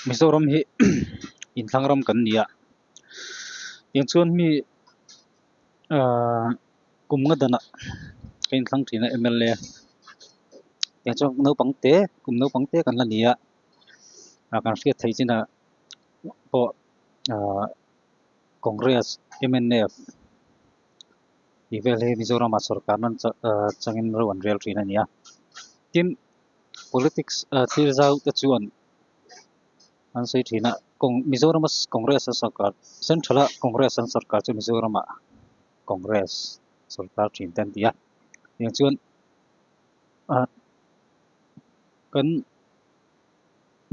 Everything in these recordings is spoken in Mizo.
Mizoram hi intlang ram kan ni a, tiang chuan mi kum nga dana ka intlang thin a mla tiang chuan naupang te kum naupang te kan la ni a kan hriat theih chin a, pawh ahh congress mnf tih vel hi mizorama sawrkar nan chang ahh changin reuh an rel thin a ni a tin politics ah thil zau te chuan an sawi thin a kawng mizorama congress a sawrkar central a congress an sawrkar chu mizorama congress sawrkar thin te an ti a tiang chuan ahh kan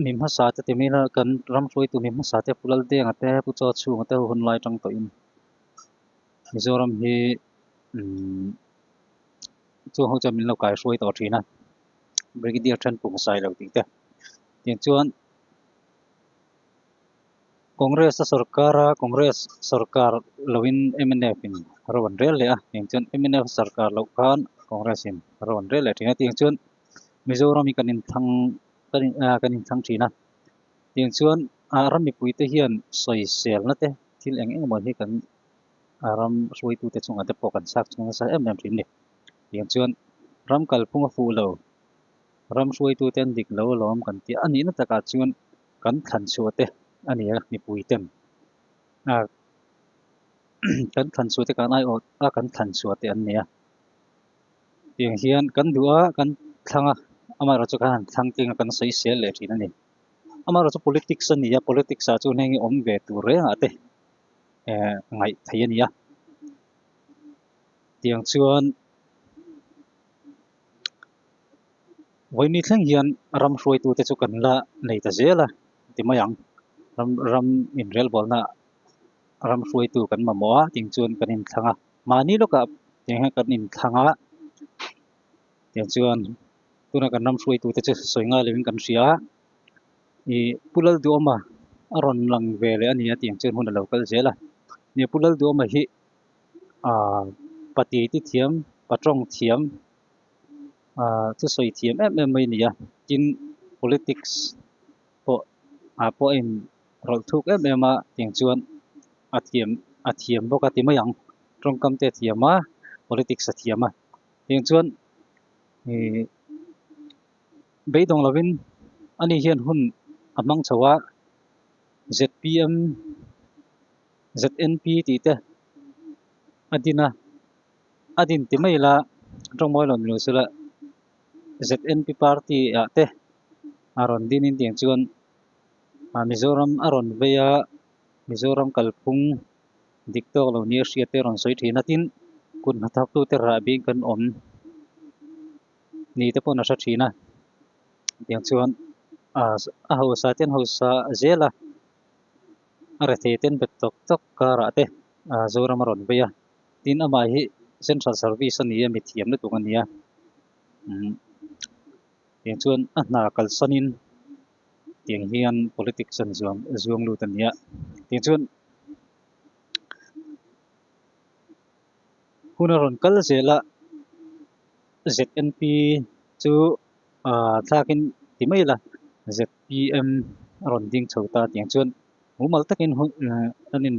mi hmasa te timin a kan ram hruaitu mi hmasa te Pulal Denga te Pu Chaw Chunga te ho hun lai tang tawh in Mizoram hi chu ho chuan min lo kai hruai tawh thin a Brigadier Thenpung sai lo tih te tin chuan Congress a sarkara Congress sarkar loin MNF in rawn rel leh a tin chuan MNF sarkar lo khan Congress in rawn rel leh thin a tin chuan Mizoram i kan inthlang kan inthlang thin a tin chuan ram mipui te hian sawi sel na te thil eng eng maw hi kan ram hruai tu te chunga te pawh kan chak chhung nasa em em thin ni tin chuan ram kal phung a fu lo ram hruai tu ten dik lo lawm kan ti a nih na taka chuan kan thlan chhuah te ani a mipui ten a kan thlan chhuah te kan ai ot a kan thlan chhuah te an ni a Tiang hian kan duh a, kan thlang a, amaherawh chu kan han thlang tling a, kan sawi sel leh thin a ni. Amaherawh chu politics a ni a, politics ah chuan heng awm ve tur rengah te eh ngaih theih a ni a. Tiang chuan vawiin i thleng hian ram hruaitute chu kan la nei ta zel a ti mai ang. Ram ram inrelbawlhna ram hruaitu kan mamawh a, tiang chuan kan inthlâng a. mahni lawkah tiang hian kan inthlang a tiang chuan tunah kan ram hruaitu te chu sawi nghal lovin kan hria a i pu lalduhawma a rawn lang ve leh ania tiang chuan hun a lo kal zel a ni pu lalduhawma hi ah patiti thiam patawng thiam ah chu sawi thiam em em mai a nia tin politics pawh ah pawh a in Rawlh thuk em em a tiang chuan a thiam a thiam bawk a ti mai ang, tawngkam te a thiam a, politics a thiam a, tiang chuan ihh beidawng lovin ani hian hun a hmang chho a, zpm, znp tih te a din a, a din ti mai la tawngmawina rawn lirsulah znp party ah te a rawn din in tiang chuan, Mizoram a rawn vei a, Mizoram kalphung dik tawk lo nia hriat te rawn sawi thin atin kut hna thak tute rah bik kan awm ni te pawh a hre thin a, tiang chuan a hausa ten hausa zela a re thei ten bet tawk tawk karah te Zoram a rawn vei a, tin amah hi central service a ni a, mithiam lutuk a ni a. Tiang chuan a hna kalsanin tiang hian politics an zuang zuang lut a nia. Tiang chuan hun a rawn kal zel a ZNP chu ah thlakin ti mai la ZPM a rawn ding chho ta tiang chuan mumal takin hun an in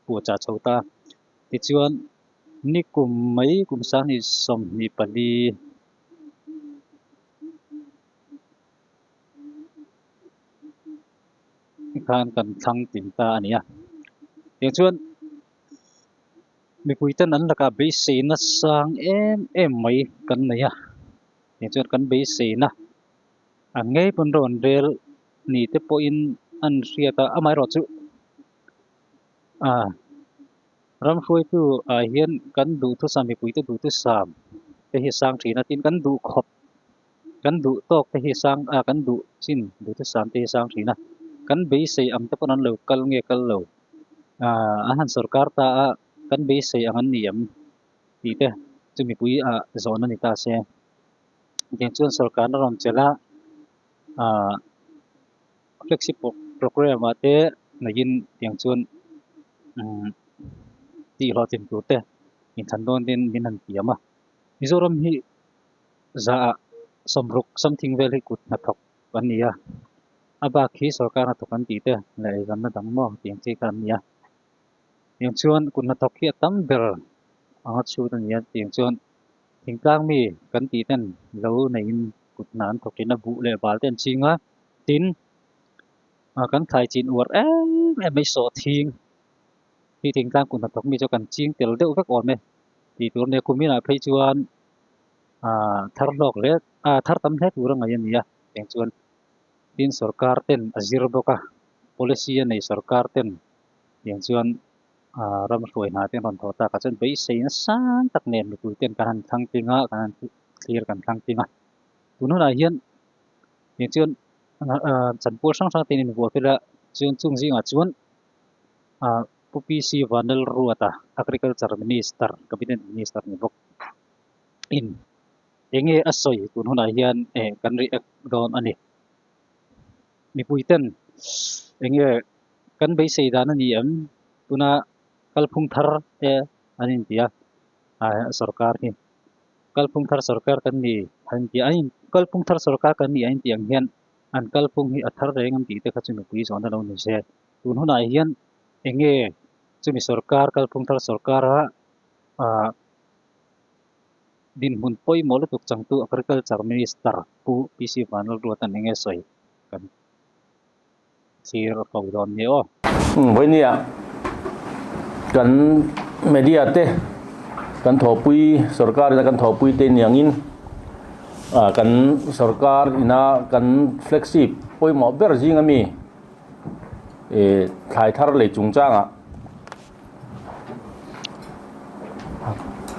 puahchah chho ta. Tichuan, ni kum mai kum sanghnih sawmhnih pali khan kan thlang tin ta a ni a. Tichuan, mipui ten an lakah beiseina sang em em mai kan nei a. Tichuan, kan beiseina a ngei pawn reuh an rel ni te pawhin an hriat a, amaherawhchu, A ram hruaitu ai hian kan duhthusam mipuite duhthusam te hi a sang thin a, tin kan duh khawp, kan duh tawk te hi a sang, a kan duh chin duhthusam te hi a sang thin a, kan beisei ang te pawh an lo kal nge kal lo, a a han sorkar ta a kan beisei ang an ni ang tih te chu mipui ah zawn a ni ta se. Engtiang chuan sorkarna rawn chelh a, a. Flagship programme ah te neiin tiang chuan tih hlawh thin tur te in than dawn din min han tiam a, Mizoram hi za ah sawmruk samthing vel hi kut hnathawk an ni a, a bak hi sorkar hnathawk an tih te leh eizawnna dang maw tih ang chi kha an ni a, tiang chuan kut hnathawk hi a tam ber ang a chhut a ni a, tiang chuan thingtlang mi kan tih ten lo neiin kut hna an thawk in a buh leh bal te an ching a, tin ah kan thlai chin uar em em mai sawh thing khi thing tlang kun hnathawk mi chu kan ching tel deuh vek awm e tih tur nia kuminah phei chuan ah thar hlawk hle ah thar tam hle tur a ngaih a ni a tiang chuan tin sorkar ten a zir bawk a policy a nei sorkar ten tiang chuan ah ram hruai hnah ten rawn thawh takah chuan beisei nasa tak nen mipui ten kan han thlang tling a kan han thlir kan thlang tling a. Tun hunah hian hei chuan chan pawl hrang hrang te in invuah fel a, chuan chung zingah chuan Pu PC Van Lal Ruata Agriculture Minister, Cabinet Minister ni bawk in eng nge a sawi tun hunah hian kan react dawn a ni. Mipui ten eng nge kan beisei dan a ni em? Tuna kalphung thar te an intia sorkar hi. Kalphung thar sorkar kan ni a inti a, kalphung thar sorkar kan ni a inti ang hian an kalphung hi a thar reng an tih te kha chu nupui zawhna lo ni se. Tun hunah hian eng nge chumi sorkar kalphung thar sorkara ah dinhmun pawimawh lutuk changtu agriculture minister pu PC Vanlalduatan eng nge sawi kan. thlir a fo dawn ni aw. Vawini-a kan media te kan thawhpui sorkar ina kan thawhpui te niangin kan sorkar ina kan flagship pawimawh ber zinga mi thlai thar lei chungchanga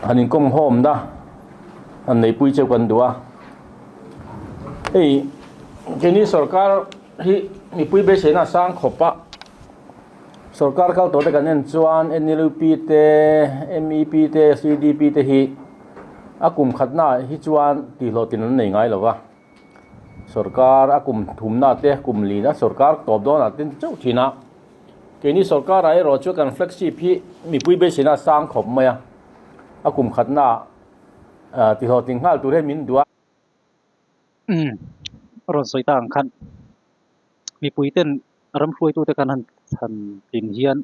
han inkawm hawm na han neipui cheu kan duh a hei keini sorkar Hi mipui beiseina a sang khawp a, sorkar kal tawh te kan en chuan NLUP te, MEP te, CDP te hi a kum khatna ah hi chuan tihhlawh tin an nei ngai lo va, sorkar a kum thumna ah te, kum lin a sorkar tawp dawn ah te ni chauh thin a, keini sorkar ah erawh chu kan flagship hi mipui beiseina a sang khawp mai a, a kum khatna ah tihhlawh tin nghal tur hi min duah. Umm rawn sawi ta ang khan mipui ten ram hruaitu te kan han chhan tin hian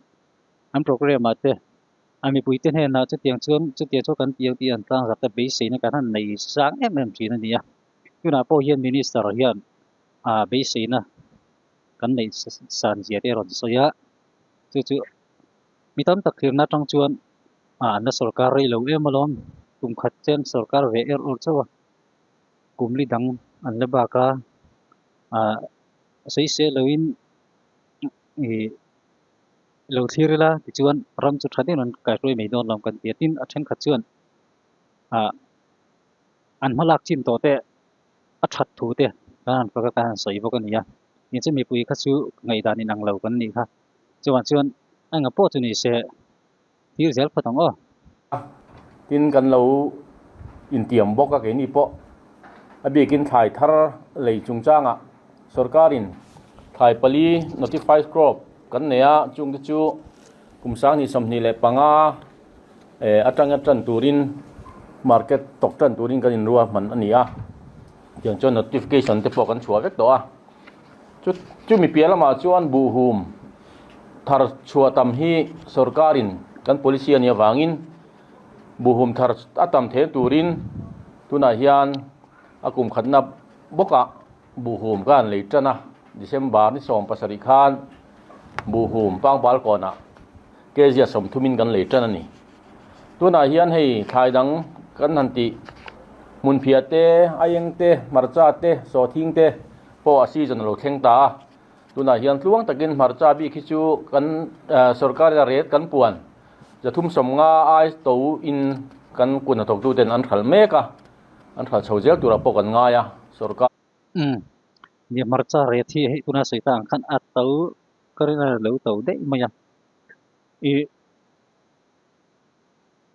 an program ah te a mipui te hnen ah chutiang chuan chutia chu kan ti ang tih an tlang zak te beiseina kan han nei sang em em thin a ni a tunah pawh hian minister hian a beiseina kan nei san zia te rawn sawi a chu chu Mi tam tak thirna atang chuan a anna sawrkar rei lo em alawm, kum khat chuan sawrkar ve er awr chauh a, kum li dang an la bak a, ah sawi se loin ih i lo thlir ila tichuan ram chu tha deuhin an kaihruai mai dawn alawm kan ti a, tin a thenkhat chuan ah an hma lak chin tawh te a that thu te kan han fak a kan han sawi bawk a ni a, eng chu mipui kha chu ngaihdan inang lo kan ni kha. Chuvang chuan enga pawh chu ni se, thil zel phawt ang aw. A, tin kan lo intiam bawk a keini pawh a biakin thlai thar lei chungchangah sorkarin thlai pali notified crop kan nei a, chung te chu kum sanghnih sawmhnih leh panga atanga tan turin market tawk tan turin kan inruahman a ni a, tiang chuan notification te pawh kan chhuah vek tawh a. Chumi piah lamah chuan buhhum thar chhuah tam hi sorkarin kan policy a nih avangin buhhum thar a tam thel turin tunah hian a kum khatna bawkah buhhum kan lei tan a. December ni sawm pasarih khan buhhum pangpal kawnah kg a sawmthum in kan lei tan a ni. Tunah hian hei thlai dang kan han tih hmunphiate, a eng te, hmarcha te, sawthing te, pawh a season a lo thleng ta a, tunah hian tluang takin hmarcha bik hi chu kan sorkar ina ret kan puan zathum sawmnga ai to in kan kunna thawktu ten an hralh mek a, an hralh chho zel turah pawh kan ngai a, sorkar. Umm ni hmarcha ret hi hei tuna sawi ta ang khan a to ka rilh a lo to daih mai a, i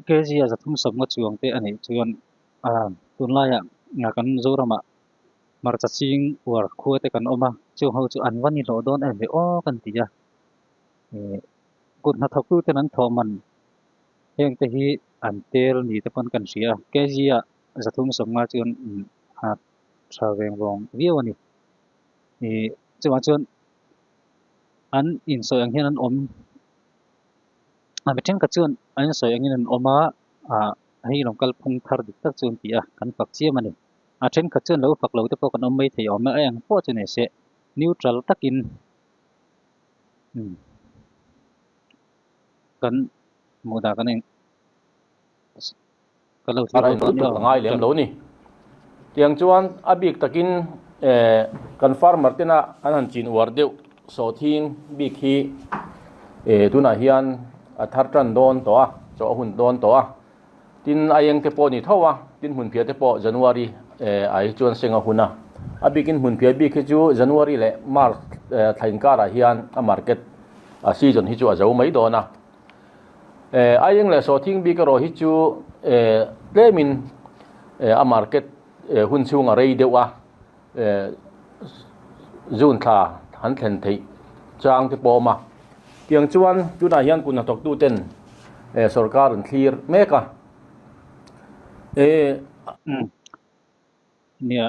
kg a zathum sawmnga chuang te a nih chuan tunlaiah kan Mizoramah Hmarcha ching uar khua te kan awm a, chung ho chu an va ni hlawh dawn em ve aw kan ti a, eh kut hnathawk tu ten an thawhman heng te hi an tel ni te pawn kan hria, KG a zathum sawm nga chuan a tha veng vawng viau a ni, eh chungah chuan an insawi ang hian an awm a mi thenkhat chuan an insawi angin an awm a, ah hei lawng kalphung thar dik tak chu an ti a, kan fak chiam a ni. A thenkhat chuan lo fak lo te pawh kan awm mai thei awm e, a eng pawh chu nei seh neutral takin kan hmuh dan kan en kan lo thlir awm tawh a ngai lem lo ni. Tiang chuan a bik takin kan farmer tena an han chin uar deuh sawthin bik hi tunah hian a thar tan dawn tawh a, chaw a hun dawn tawh a. Tin, a eng te pawh ni tho a, tin hmunphiah te pawh January ai chuan seng a hun a. A bikin hmunphiah bik hi chu January leh March thlai inkarah hian a market a season hi chu a zo mai dawn a. A eng leh sawhthing bik erawh hi chu tlem in a market hun chhung a rei deuh a. zun thla an thlen theih chang te pawh a awm a. Tiang chuan tunah hian kun hnathawktu ten sorkar an thlir mek a. E. Nia,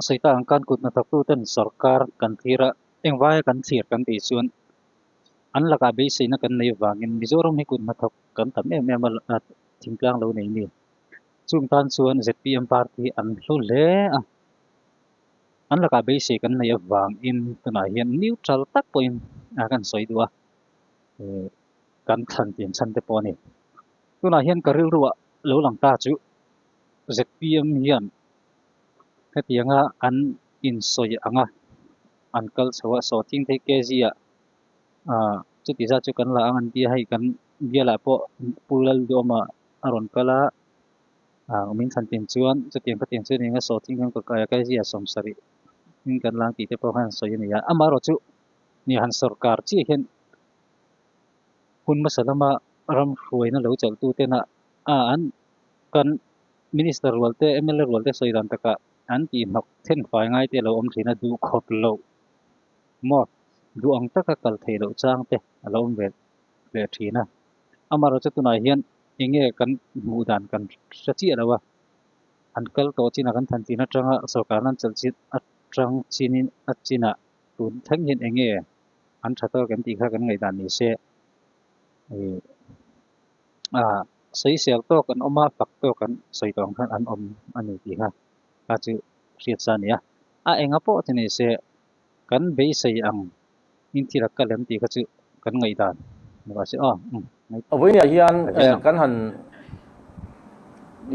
Sawitar ang khan kun hnathawktu ten sorkar kan thlir a, engvai kan thlir kan tih chuan an lakah beiseina kan nei vangin Mizoram hi kun hnathawk kan tam em em a thingtlang lo nei ni. Chung tan chuan zpm party an hlu hle a. an lakah beisei kan nei avangin tunah hian neutral tak pawhin a kan sawi duh a eh kan thlan tih chhan te pawh a ni tunah hian ka rilru ah lo lang ta chu zpm hian hetianga an insawi ang a an kal chho a saw tling phei kg ah ah chutih zat chu kan la ang an tia hei kan bialah pawh pu lalawma a rawn kal a Aang min than tin chuan chutiang ka tiang chuan eng a saw thing khan kut aia kal zia sawm sarih in kan lang tih te pawh khan sawi a ni a, amaherawh chu ni han sawrkar chiah hian hun hmasa lama ram hruaina lo chalh tu tena a an kan minister rual te mla rual te sawi dan taka an tih hnawk then fai ngai te lo awm thin a duh khawp lo maw duh ang taka kal thei loh chang te a lo awm ve leh thin a, amaherawh chu tunah hian Enge kan hmuh dan kan hre chiah lo a, an kal tawh chinah kan than chin atanga sorkar an chelh chin atang chinin a chinah tun thleng hian enge an tha tawk em tih kha kan ngaihdan ni se. A sawi sial tawk an awm a, fak tawk an sawi dawn khan an awm a ni tih kha a chu hriat sa a ni a. A enga pawh chu ni se. Kan beisei ang in thil at ka lem tih kha chu kan ngaih dan lo a si a. Vawiin ah hian kan han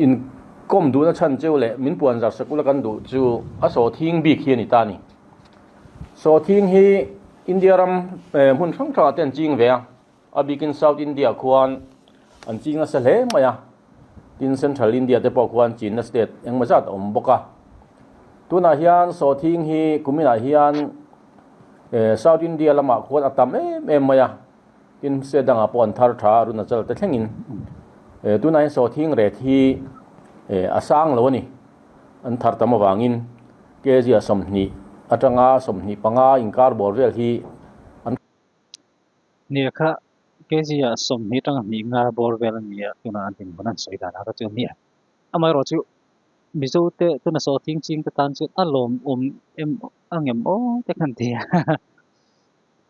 inkawm duhna chhan cheu leh min puan zarh sakula kan duh chu a sawthing bik hi a ni ta a ni. Sawthing hi India ram hmun hrang hrangah te an ching ve a. A bikin South India khuan an ching nasa hle mai a, tin Central India te pawh khuan Chinna state engmaw zat a awm bawk a. Tunah hian saw thing hi kuminah hian South India lamah khuan a tam em em mai a, tin state dangah pawh an thar tha a Arunachal te thlengin. Tunah hian saw thing ret hi a sang lo a ni, an thar tam avangin kg a sawmhnih atanga sawmhnih panga inkar bawr vel hi Nia kha, Kezia sawmhnih atanga hnih nga bawr vel a ni a, tunah an hlim hun an sawi dan a ka ti a. Amaherawh chu, Mizo te, tuna saw thing ching te tan chuan a lawm awm em a ngem aw te kha an ti a,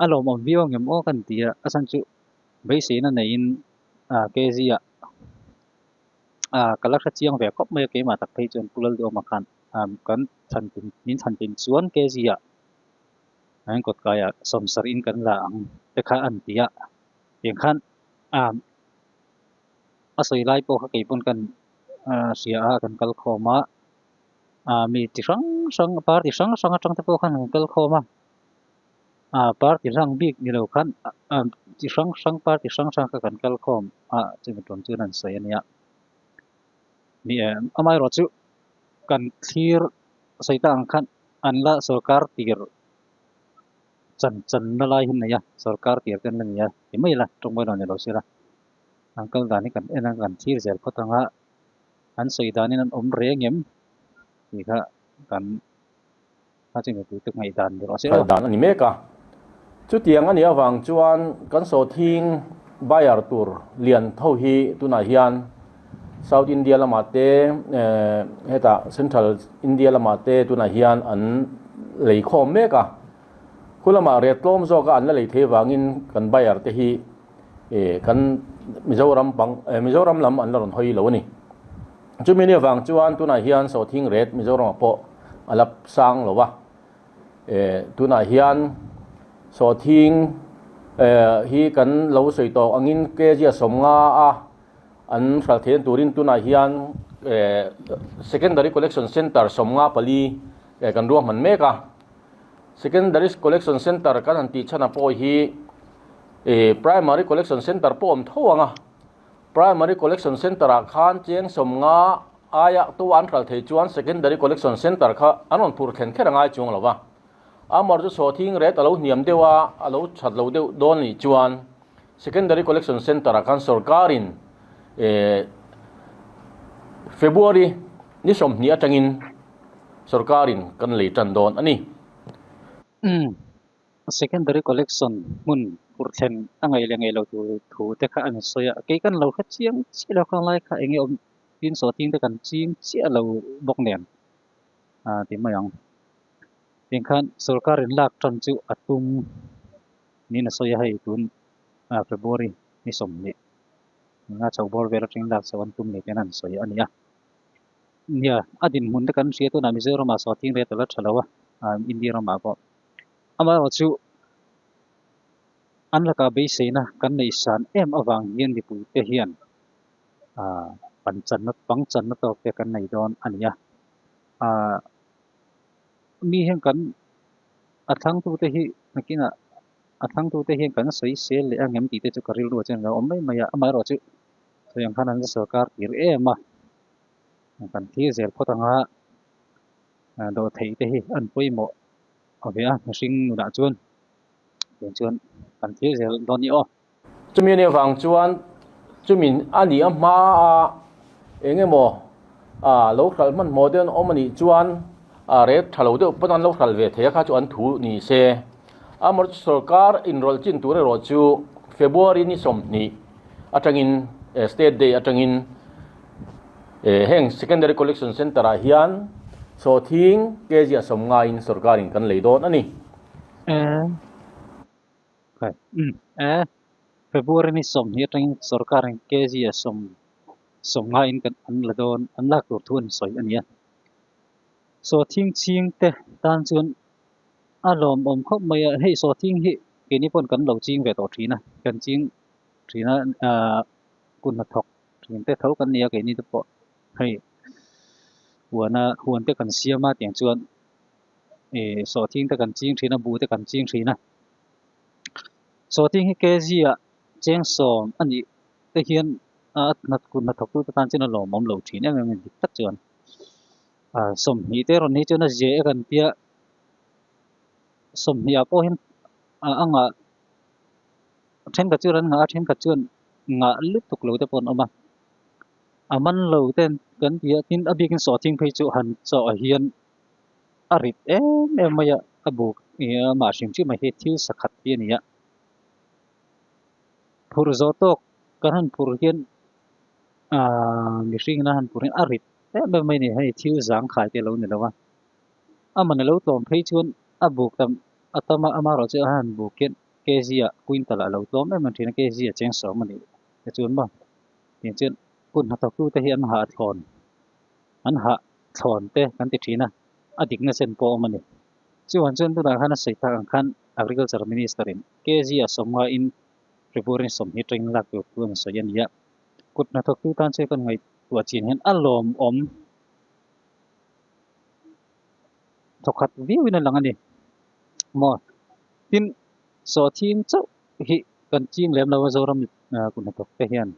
a lawm awm viau ngem aw kha an ti a, a chhan chu beiseina neiin Kezia ka la hre chiang ve khawp mai a, keimah tak phei chuan Pulal duh awmah khan kan chhan min chhan tin chuan Kezia. An kawt kaiah sawmsarh in kan la ang te kha an ti a, tiang khan ahm a sawi lai pawh kha kei pawn kan hria a, kan kal khawm a, aah mi ti hrang hrang party hrang hrang atang te pawh khan kan kal khawm a, aah party hlang bik ni lo khan ahm chi hrang hrang party hrang hrang kha kan kal khawm a, chumi tum chuan an sawi a nia. Ni em amai rawh chu kan thlir sawi ta ang khan an la sorkar tir chan chan na lai hin nei a sorkar tir ten la nia ti mai la tawng mai lo ni lo sila an kal dan hi kan en ang kan thlir zel phawt anga an sawi dan in an awm reng em ti kha kan Hngalh dan a ni mek a. Chutiang a nih avang chuan kan sawtthing buyer tur lian tho hi tunah hian South India lamah te heta Central India lamah te tunah hian an lei khawm mek a. Khulamah riat tlawm zawka an la lei thei vangin kan buyer te hi eh kan Mizoram pang eh Mizoram lam an la rawn hawi lo a ni. Chumini avang chuan tunah hian Sawthing ret Mizorama pawh a la sang lo a. Eh tunah hian Sawthing eh hi kan lo sawi tawk angin kg a sawm nga a an hral theih na turin tunah hian eh Secondary Collection Centre sawm nga pali eh kan ruahman mek a. Secondaries Collection Centre kan han tih chhan a pawh hi eh Primary Collection Centre pawh awm tho ang a, Primary Collection Centre ah khan cheng sawmnga aia tawh an hral thei chuan Secondary Collection Centre kha an rawn phur thlen kher a ngai chuang lo va, amarawh chu sawhthing ret a lo hniam deuh a, a lo that lo deuh dawn ni chuan Secondary Collection Centre ah khan sawrkarin February ni sawmhnih atangin sawrkarin kan lei tan dawn a ni. Secondary Collection hmun fur thlen a ngaih leh ngaih lo tur thu te kha an sawi a, kei kan lo hre chiang chiah lo kha lai kha eng nge awm tin saw tin te kan ching chiah lo bawk nen a ti mai ang. Tiang khan sawrkarin lak tan chu a tum. Niin a sawi a, hei tun February ni sawm leh a chho bawr vel atang lak chauh an tum ni tihna an sawi a ni a. Nia, a dinhmun te kan hria tunah Mizoramah saw a thing ret ala tha lo a, India ramah pawh. Amaherawh chu an lakah beiseina kan neih san em avang hian mipuite hian pangchanna tawk te kan nei dawn a ni a. mi hian kan a thlang tu te hi nakin ah a thlang tu te hian kan sawi sel leh a ngem tih te chu ka rilru a chen lo awm mai mai a amah erawh chu hei ang khan an la sawrkar tir em a kan thlir zel phawt ang a dawh theih te hi an pawimawh a ve a mihring nunah chuan tiang chuan kan thlir zel dawn ni aw. Chumi nen vang chuan chumin a nih a hma a, eng emaw a lo hral hmanhmawh deuh an awm a nih chuan a rêt tha lo deuh pawn an lo hral ve thei a kha chu an thu ni se. Amarawh chu sawrkar inrawlh chin tur erawh chu February ni sawmhnih atangin e, State Day atangin e, heng Secondary Collection Centre ah hian chaw thing kg a sawm ngaiin sawrkarin kan lei dawn a ni. February ni sawm hi atangin sorkarin KG a sawm sawm ngaiin kan an la dawn an lak tur thu a ni sawi a ni a saw thing ching te tan chuan a lawm awm khawp mai a hei saw thing hi kini pawn kan lo ching ve tawh thin a kan ching thin a kun hna thawk thin te tho kan nia keini te pawh hei huana huan te kan siam a tiang chuan e sawhting te kan ching thin a bu te kan ching thin a sawhting hi kg a cheng sawm a nih te hian a nat kun na thawk tu te tan chin a lawmawm lo thin em em dik tak chuan a sawm hnih te rawn hi chuan a zia e kan tia sawm hnih a pawh hian a anga thenkhat chu ran ngah a thenkhat chuan ngah lutuk lo te pawh an awm a a man lo ten kan tia tin a biakin sawhting phei chu han chaw a hian a rit em em mai a a buk aa mah hrim hrim a hi thil sa khat hi a ni a phur zawh tawk kan han phur hian aa mihring ina han phur hian a rit em em mai a ni hei thil zang khai te lo ni lo a amawni lo tlawm phei chuan a buk tam a tam a ama erawh chu a han buk hian kg a quintal ah a lo tlawm em em thin a kg a cheng sawm a ni tichuan maw tin chuan kun hnathawk tute hi an ha a thlawn. an hah thlawn te kan ti thin a, a dik nasa en pawh a awm a ni. Chuan chuan tunah khan a sawi tak ang khan Agriculture Minister in kg a sawm nga in Triburin sawm hi training lak tur thu a ni sawi a ni a, kut hnathawk tu tan chuan kan ngaihtuah chin hian a lawm awm thaw khat viau in a lang a ni maw tin sawhthing chauh hi kan ching lem lo a Zoram kut hnathawk te hian.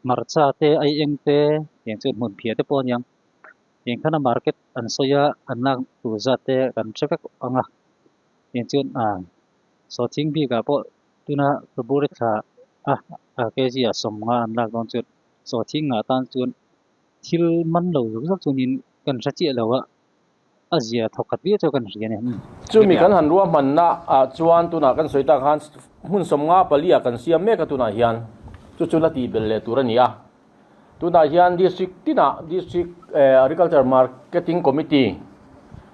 Hmarcha te ai eng te eng chu hmun phiah te pawh a niang eng khana market an sawi a an lak tur zat te kan hre vek ang a eng chuan a saw thing bik ah pawh tuna ka bur i thla a a kg ah sawm nga an lak dawn chuan saw thing ah tan chuan thil man lo zuk zuk chuan in kan hre chiah lo a A zia thawk khat viau chu kan hria nen. Chumi kan han ruahmanna ah chuan tunah kan sawi ta khan hmun sawm nga pali ah kan siam mek a tunah hian chu chu la ti bel leh tur a ni a. Tunah hian district tinah district agriculture marketing committee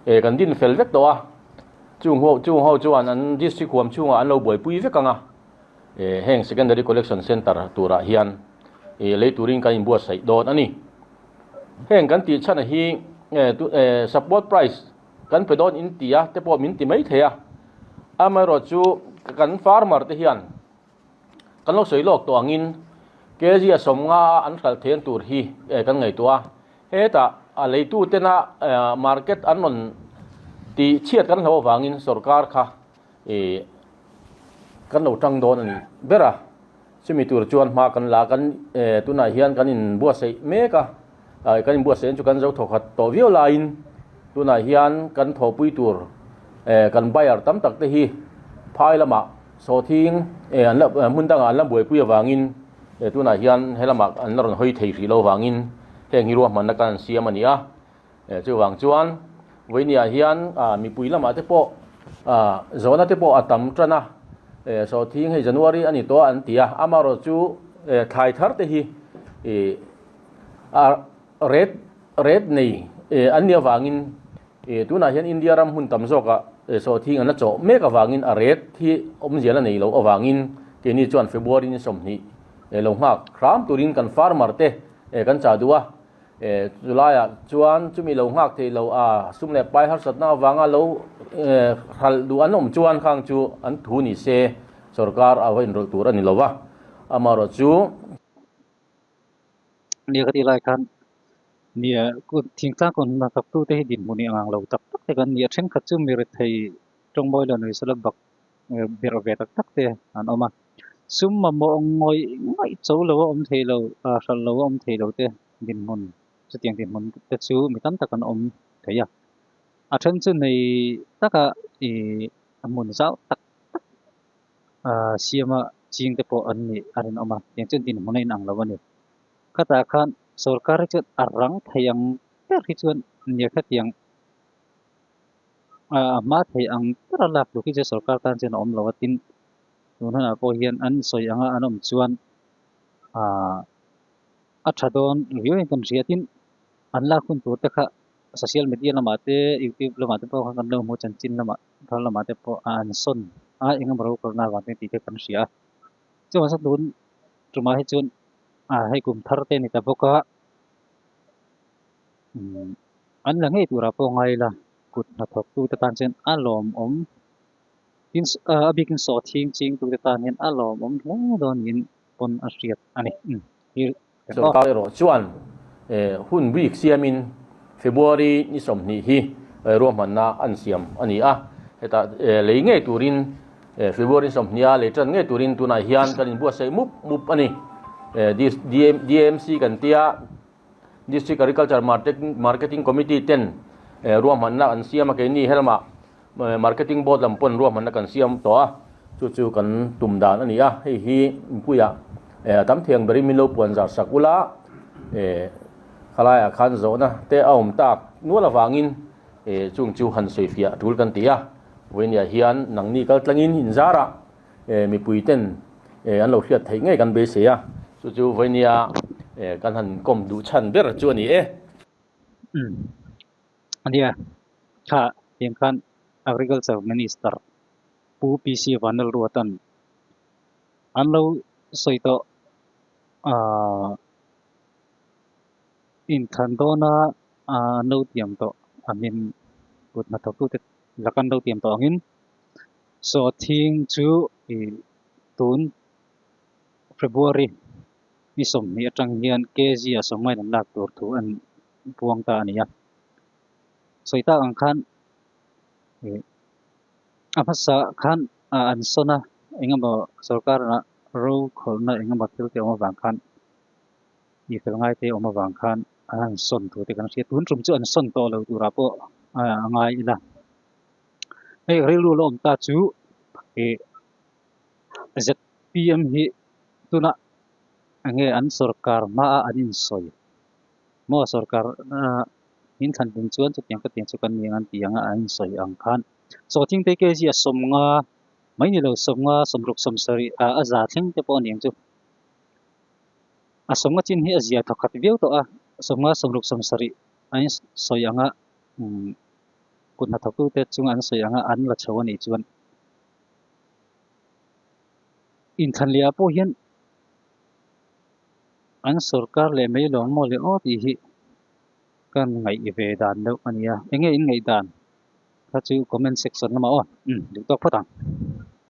e kan din fel vek tawh a, chung ho chung ho chuan an district huam chhungah an lo buaipui vek ang a. E, heng Secondary Collection Centre turah hian e lei turin kan inbuatsaih dawn a ni. Heng kan tih chhana hi e tu e support price kan pe dawn in ti a te pawh min ti mai thei a. Amaherawh chu kan farmer te hian kan lo sawi lawk tawh angin kg a sawm nga a an hralh thei an tur hi e kan ngaihtuah a. Hetah a leitutena e market an rawn tih chhiat kan hlo avangin sorkar kha I kan lo tang dawn a nih ber a, chumi tur chuan hma kan la kan tunah hian kan in buatsaih mek a, kan in buatsaih ang chu kan zo thaw khat tawh viau laiin tunah hian kan thawhpui tur kan buyer tam tak te hi phai lamah sawthing hmun dangah an la buaipui avangin tunah hian he lamah an la rawn hawi thei hrih lo avangin heng hi ruahmanna kan siam a nia. Chuvang chuan Vawiniah hian mipui lamah te pawh zawhna te pawh a tam tan a, Sawhthing hei January a ni tawh an ti a, amaherawh chu thlai thar te hi a ret ret nei an nia vangin tunah hian India ram hmun tam zawkah Sawhthing an la chawh mek avangin a ret hi awm zial a nei loh avangin keini chuan February in sawmhnih lo nghak hram turin kan farmer te kan chahduh a. E, chu laiah chuan chumi lo nghak thei lo a, sum leh pai harsatna avanga lo hralh duh an awm chuan khang chu an thu ni se, sorkar a va inrawlh tur a ni lo va, amaherawh chu. Nia ka tih lai khan, nia, thing tlang kawn hna thawktute hi dinhmuh ni angang lo tak tak te kan ni a, thenkhat chu mi rethei tawngbawilanuisa la bak. ber ve tak tak te an awm a sum mamawh ngawi ngaih cho lo a awm thei lo a hral lo a awm thei lo te dinhmun chutiang dinhmun te chu mi tam tak an awm thei a a then chu nei taka i hmun zau tak tak a siama ching te pawh an nih a rinawm a tiang chuan dinhmun a inang lo a ni khatah khan sorkar hi chuan a rang thei ang ber hi chuan nirhatiang a hma theih ang ber a lak tur khi chu sorkar tan chuan a awm lo a tin tun hunah pawh hian an sawi ang a an awm chuan a tha dawn riau reng kan hria tin an lak hun tur te kha social media lamah te youtube lamah te pawh kha kan lo hmu chanchin lamah thar lamah te pawh a an sawn a eng emaw ro karna vang te tih te kan hria a chuan sa tun tumah hi chuan hei kum thar te a ni ta bawk a an la ngei turah pawh ngai ila kut hnathawk tu te tan chuan a lawm awm tin a biakin saw thing ching tu te tan hian a lawm awm hle dawn niin pawn a hriat a ni sawrkar erawh chuan hun week siamin February ni sawmhnih hi ruahmanna a an siam a ni a hetah lei ngei turin February sawmhnih a lei tan ngei turin tunah hian kan inbuatsaih mup mup a ni DMC kan tia District Agriculture Marketing Committee ten ruahmanna kan siam a, keini helma Marketing Board lam pawn ruahmanna kan siam tawh a, chu chu kan tum dan a ni a, hei hi Mipuia tam thiang ber in min lo puan zar sak ula, khalaia khan zawhna te a awm tak nual avangin chung chu han sawifiah a tul kan ti a, vawinia hian nangni kaltlangin inzara e mipui ten e an lo hliat theih ngei kan beisei a chu chu vawinia e kan han kawm duh chhan ber chu a ni e. Umm a nia tha tiang khan agriculture minister pu PC Vanlalruatan an lo sawi tawh ah in than dawn a an lo tiam tawh a hmin kut hnathawk tu te la kan lo tiam tawh ang in Saw thing chu i tun February i sawmhnih atang hian KG a saw ngaihnam lak tur thu a buang ta a ni a. Sawi tak ang khan a hmasa khan an sawn a engemaw sorkar a ro khawlna engemaw thil te awm avang khan i fel ngai te awm avang khan an sawn thu te kan hria. Tun tum chu an sawn tawh lo tura pawh a ngai ila. hei rilru la awm ta chu ih zpm hi tuna enge an sorkar hmaa an insawi maw sorkar min thlan dun chuan chutiang katiang chu kan ni ang an ti ang a an insawi ang khan chaw tling te kg a sawmnga mai nilo sawmnga sawmruk sawmsarih a a za thleng te pawh a ni ang chu a sawmnga chin hi a zia tha khat viau tawh a sawmnga sawmruk sawmsarih an sawi ang a Kut hnathawktu te chung an sawi ang a, an la chho a nih chuan inthlanliah pawh hian an sorkar leh mai lawng maw le aw tih hi kan ngaih ve dan deuh a nia enge in ngaih dan kha chu comment section lamah aw duh tawk phawt ang.